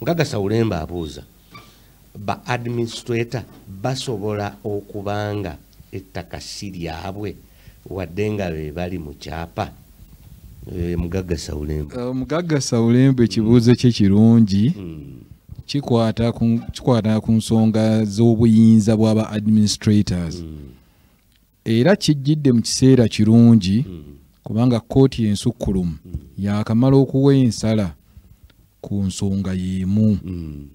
Mukagasa Ulemba abuuza ba administrator basobola okubanga ettaka si lyabwe wadde nga be bali mu kyapa eh, mugagga sawulembe eh, mugagga sawulembe ekibuuzo kye kirungi hmm. kikwata ku nsonga z'obuyinza bw'aba administrators mm. era kijjidde mu kiseera kirungi mm. kubanga kkooti ensukkulumu mm. yaakamala okuwa ensala ku nsonga y'emu mm.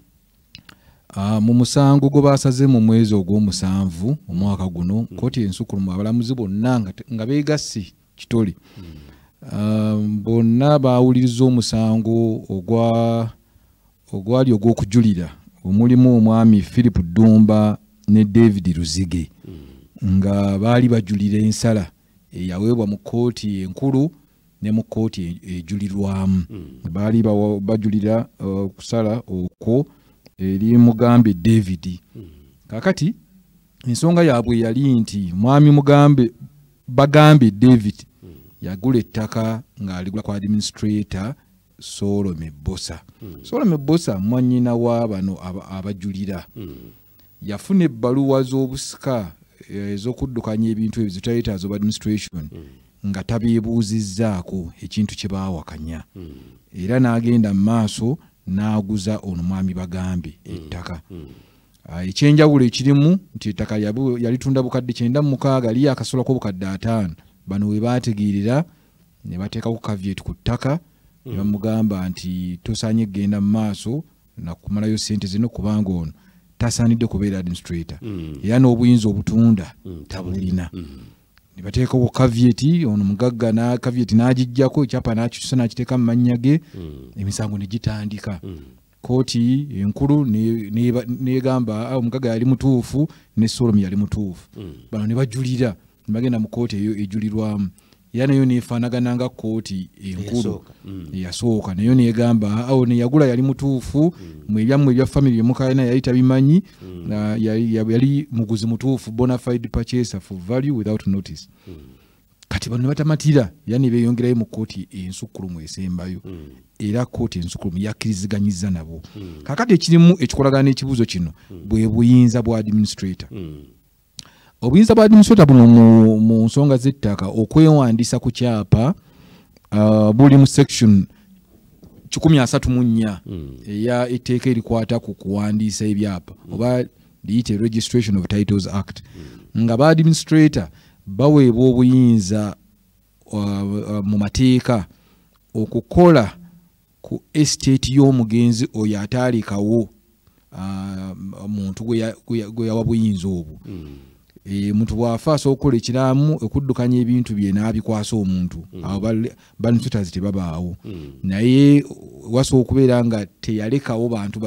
ah, mu musango gwe baasaze mu mwezi ogw'omusanvu omwaka guno kkooti ensukkulumu abalamuzi bonna nga beegassi kitole ah, bonna baawuliriza omusango ogwa ogwali ogw'okujulira omulimu omwami philip ddumba ne david luzige hmm. nga baali bajulira ensala eyaweebwa mu kkooti enkulu ne mu kkooti ejulirwamu hmm. baali bajulira uh, okusala okwo eri mugambe david hmm. kakati ensonga yaabwe yali nti mwami mugambe bagambe david yagula ettaka ng'aligula ku administrator soolo mebbosa hmm. soolo mebbosa mwanyina wa bano abajulira hmm. yafuna ebbaluwa z'obusika eh, ez'okuddukanya ebintu ebyo zitayetaaza oba administration hmm. nga tabeebuuzizzaako ekintu kye baawakanya era n'agenda mu maaso n'aguza ono mwami bagambe ettaka ah, ekyenjawulo ekirimu nti ettaka yalitunda bukadde kyenda mu mukaaga liyo akasolako obukadde ataano bano we baategeerera ne bateekako kavyet ku ttaka ne bamugamba nti tosaanye kugenda mu maaso nakumalayo sente zino kubanga ono tasaanidde kubeera administrator mm. era n'obuyinza obutunda mm, tabulina mm. ne bateekawo kavyeti ono mugagga na kavyeti n'agijjako ekyapa n'akikyusa n'akiteeka mu mannya ge emisango ne gitandika kooti enkulu negamba ah, omugaga yali mutuufu ne solomu yali mutuufu hmm. bano ne bajulira nebagenda mu kooti eyo ejulirwamu era nayo nefaanagana nga kooti enkulu hmm. yasooka nayo negamba ah, awo neyagula yali mutuufu hmm. mu ebyammwe ebya famiry emukalina yali tabimanyi ah, yali muguzi mutuufu bonafide purchaser for value without notice kati bano nebatamatira era nebeyongerayo mu kooti ensukkulumu esembayo mm. era kooti ensukkulumu yakkiriziganyiza nabo mm. kakati ekirimu ekikolagana n'ekibuuzo kino mm. bwe buyinza bwa administrator mm. obuyinza bwa administrator buno mu, mu nsonga z'ettaka okwewandiisa ku kyapa uh, buli mu section kikumi asatu mu nnya mm. eya etteeka erikwata ku kuwandiisa ebyapa mm. oba liyite registration of titles act mm. nga ba administrator baweebwa obuyinza uh, uh, mu mateeka okukola ku estate y'omugenzi oyo ataalekawo uh, muntu gwe yawa buyinza obwo mm. e, muntu bwafa asobola okukola ekiramu okuddukanya ebintu bye n'abikwasa omuntu mm. awo banfutazi tebabaawo mm. naye wasobola okubeera nga teyalekawo bantu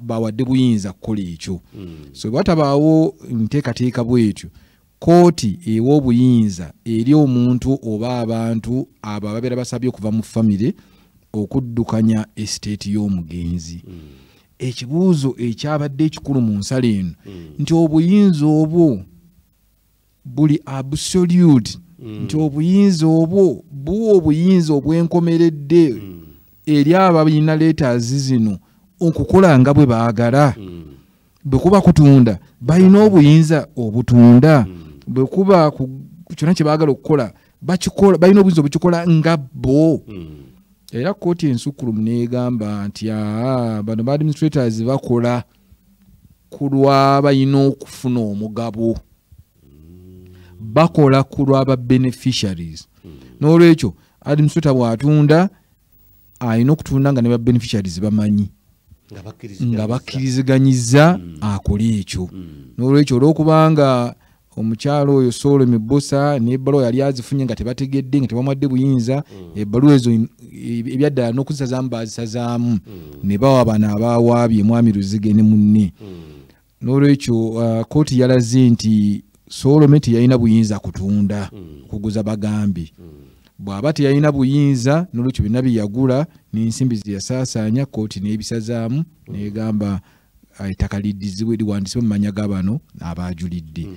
bawadde buyinza kukola ekyo mm. so bwatabaawo nteekateeka bwetyo kooti ewa obuyinza eri omuntu oba abantu abo ababeera basabye okuva mu famire okuddukanya esiteeti y'omugenzi mm. ekibuuzo ekyabadde ekikulu mu nsala eno hmm. nti obuyinza obwo buli absolute hmm. nti obuyinza obwo buwa obuyinza obwenkomeredde hmm. eri abalina leetazi zino okukola nga bwe baagala bwe kuba kutunda balina obuyinza obutunda bwe kuba kyonna kye baagala okukola bakikola balina obuyinza obukikola nga bo hmm. era kooti ensukkulumu negamba nti aa bano ba administrators bakola ku lwabalina okufuna omugabo bakola ku lwaba beneficiaries hmm. n'olwekyo administrator bwatunda alina okutunda nga ne ba beneficiaries bamanyi nga bakkiriziganyiza mm. akole ekyo mm. n'olwekyo olwokubanga omukyalo oyo soolo mibusa nebaluwa yali azifunye nga tebategedde nga tebamwadde buyinza mm. ebaluwa ezo ebyaddala n'okuzisazaamu bazisazaamu ne bawa bano abawaabye mwami luzige ne munne n'olwekyo uh, kooti yalaze nti solome teyalina buyinza kutunda mm. kuguza bagambi mm. bw'aba teyalina buyinza n'olwekyo byonna bye yagula n'ensimbi ze yasaasaanya kooti n'ebisazaamu mm. n'egamba uh, ettaka liddizibwe liwandisibwe mu manya ga bano abaajulidde mm.